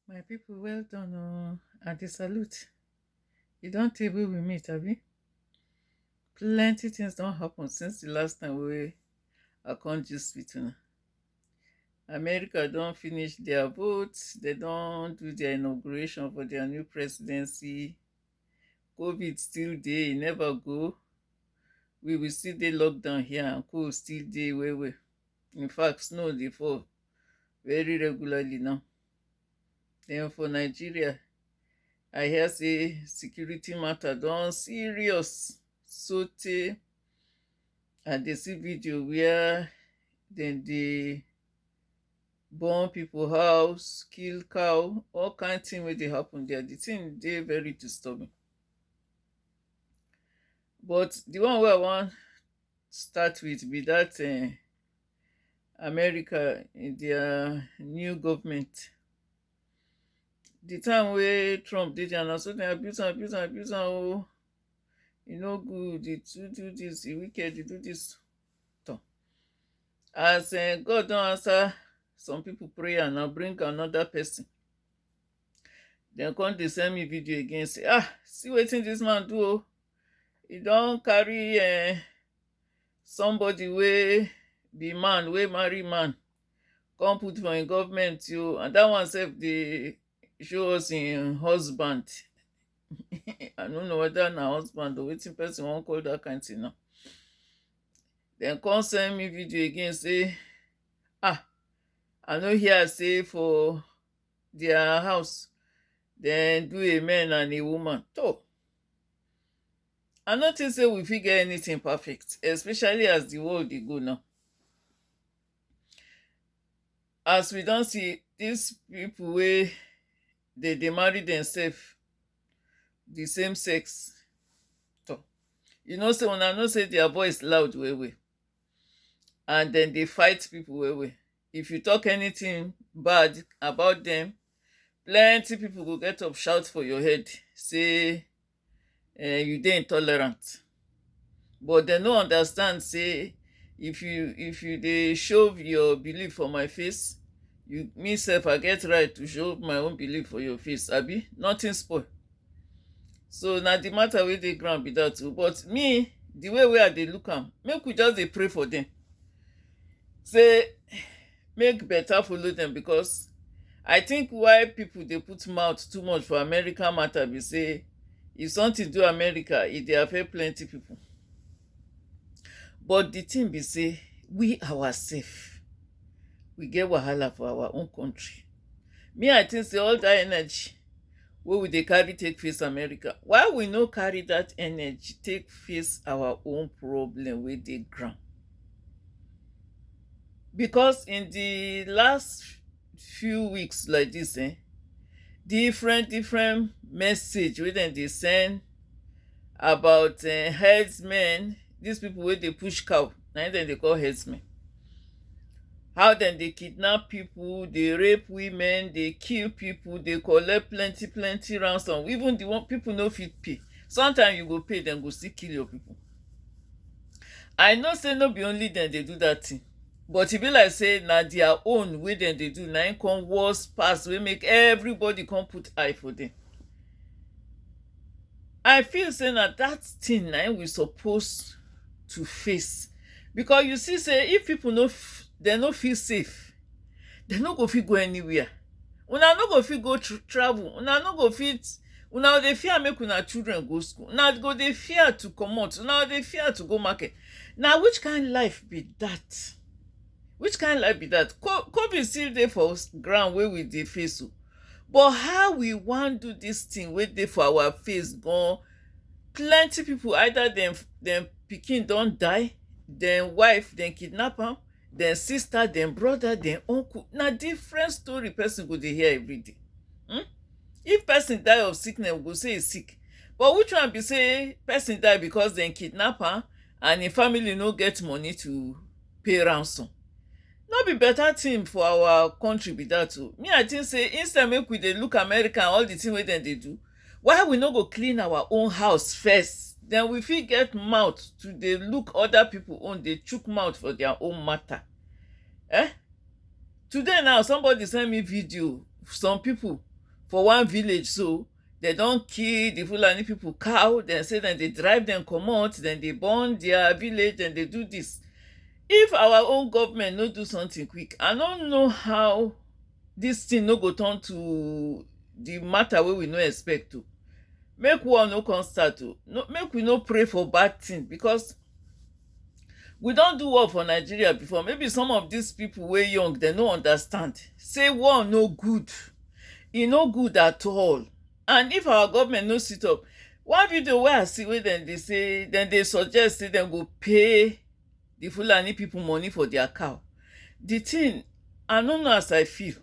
My people well done oh, I dey salute. E don tey wey we meet abi? Plenty things don happen since the last time wey I come gist with una. America don finish their vote, they don do their inauguration for their new presidency. COVID still dey, e never go. We will still dey lockdown here and co still dey well well. In fact, snow dey fall very regularly now. Then for Nigeria, I hear say security matter don serious so tey I dey see video where dem dey burn people house, kill cow, all kind thing wey dey happen there. The thing dey very disturbing. But the one wey I wan start with be that um america in dia new govment di time wey trump dey dia na so dem abuse am abuse am abuse am o e no good e too do dis e wicked e do dis tor as um god don answer some pipo prayer now bring anoda pesin dem come dey send me video again say ah see wetin this man do o he don carry um, somebody wey be man wey marry man come put for im government o and that one sef dey show us im husband i no know whether na husband or wetin person wan call that kind thing now dem come send me video again say ah i no hear say for their house then do a man and a woman so i no think say we fit get anything perfect especially as the world dey go now as we don see these people wey dey dey marry themselves the same sex so you know say una know say their voice loud well well and then they fight people well well If you talk anything bad about them, plenty people go get up shout for your head say eh, you dey intolerant. But they no understand say if you if you dey show your belief for my face, you me self I get right to show my own belief for your face, abi nothing spoil. So na the matter wey dey ground be that o. But me, the way wey I dey look am, make we just dey pray for them. say make better follow dem because I think why people dey put mouth too much for America matter be say if something do America e dey affect plenty people but the thing be say we ourself we get wahala for our own country me I think say all that energy wey we dey carry take face America why we no carry that energy take face our own problem wey dey ground because in the last few weeks like this um different different message wey dem dey send about um herdsmen this people wey dey push cow na im dem dey call herdsmen how dem dey kidnap people dey rape women dey kill people dey collect plenty plenty ransom even the one people no fit pay sometimes you go pay dem go still kill your people I know sey no be only dem dey do dat thing but e be like sey na their own wey dem dey do na im come worse pass wey make everybody come put eye for dem. I feel sey na dat thing na im we suppose to face because you see sey if people no dem no feel safe dem no go fit go anywhere una no go fit go travel una no go fit una go dey fear make una children go school una go dey fear to comot una go dey fear to go market na which kind life be that which kind life be that covid still dey for ground wey we dey face o but how we wan do this thing wey dey for our face gan plenty people either dem dem pikin don die dem wife dem kidnap am dem sister, dem brother, dem uncle, na different story person go dey hear everyday. Hmm? If person die of sickness, we go say e sick. But which one be say person die because dem kidnap am and im family no get money to pay ransom? No be better thing for our country be that o. Me I think say instead make we dey look America and all the thing wey dem dey do, Why we no go clean our own house first then we fit get mouth to dey look other people own dey chook mouth for their own matter eh today now somebody send me video some people for one village so dem don kill the Fulani people cow dem say dem dey drive dem comot dem dey burn their village dem dey do this if our own government no do something quick I no know how This thing no go turn to the matter wey we no expect o make war no come start o make we no pray for bad thing because we don do war for Nigeria before maybe some of this people wey young dem no understand say war no good e no good at all and if our government no sit up one video wey I see wey dem dey say dem dey suggest say dem go pay the Fulani people money for their cow. The thing, I don't know as I feel.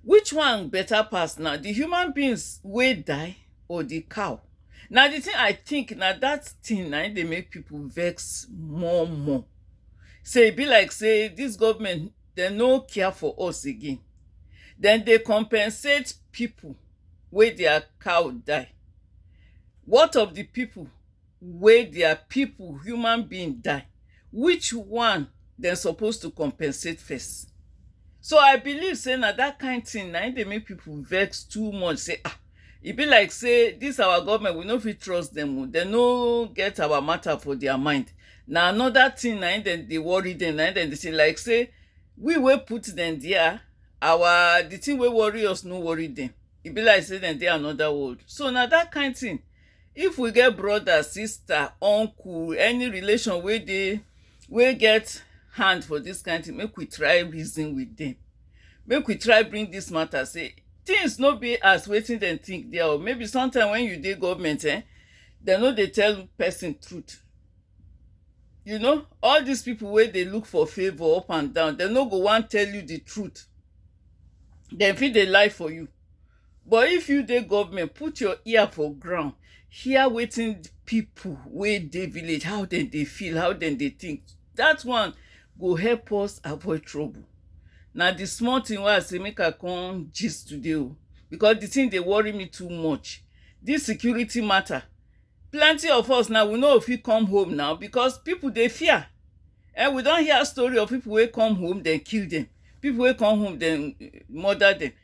Which one better pass now? The human beings will die or the cow? Now the thing I think now that thing now they make people vex more more. Say be like say this government they no care for us again. Then they compensate people where their cow die. What of the people wey dia pipo, human being, die, which one dem suppose to compensate first? So I believe sey na dat kind thing na im dey make pipo vex too much sey ah, e be like sey dis our government we no fit trust dem oh, dem no get our matter for dia mind, na another thing na im dem dey worry dem, na im dem dey say like sey we wey put dem dia, our di thing wey worry us no worry dem, e be like sey dem dey another world, so na dat kind thing. If we get brother, sister, uncle, any relation wey dey wey get hand for dis kind thing, make we try reason with dem. Make we try bring dis matter sey things no be as wetin dem think dey oh. Maybe sometimes when you dey government ern, dem no dey tell person truth. You know all dis people wey dey look for favour up and down, dem no go wan tell you the truth. Dem fit dey lie for you. But if you dey government put your ear for ground hear wetin people wey dey village how dem dey feel how dem dey think that one go help us avoid trouble na the small thing wey I say make I come gist today o because the thing dey worry me too much this security matter plenty of us now we no go fit come home now because people dey fear um we don hear story of people wey come home dem kill dem people wey come home dem murder dem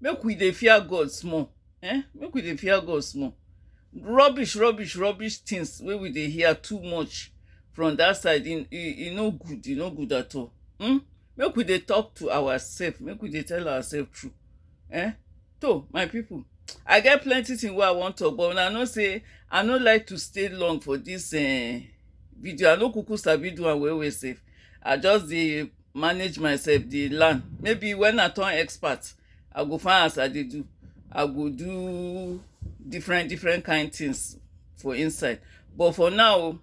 Make we dey fear God small eh, make we dey fear God small. Rubbish rubbish rubbish things wey we dey hear too much from that side e e e no good, e no good at all um. Make we dey talk to ourselves, make we dey tell ourselves true eh. Toh my people I get plenty things wey I wan talk but una know sey I no like to stay long for this um video. I no kuku sabi do am well well sef. I just dey manage myself dey learn maybe when I turn expert I go find as I dey do I go do different different kind things for inside but for now o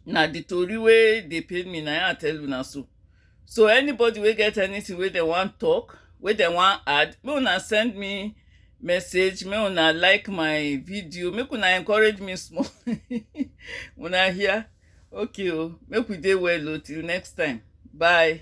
na the tori wey dey pain me na im I tell una so. So anybody wey get anything wey dem wan talk wey dem wan add make una send me message make una like my video make una encourage me small una hear. okay o make we dey well o till next time bye.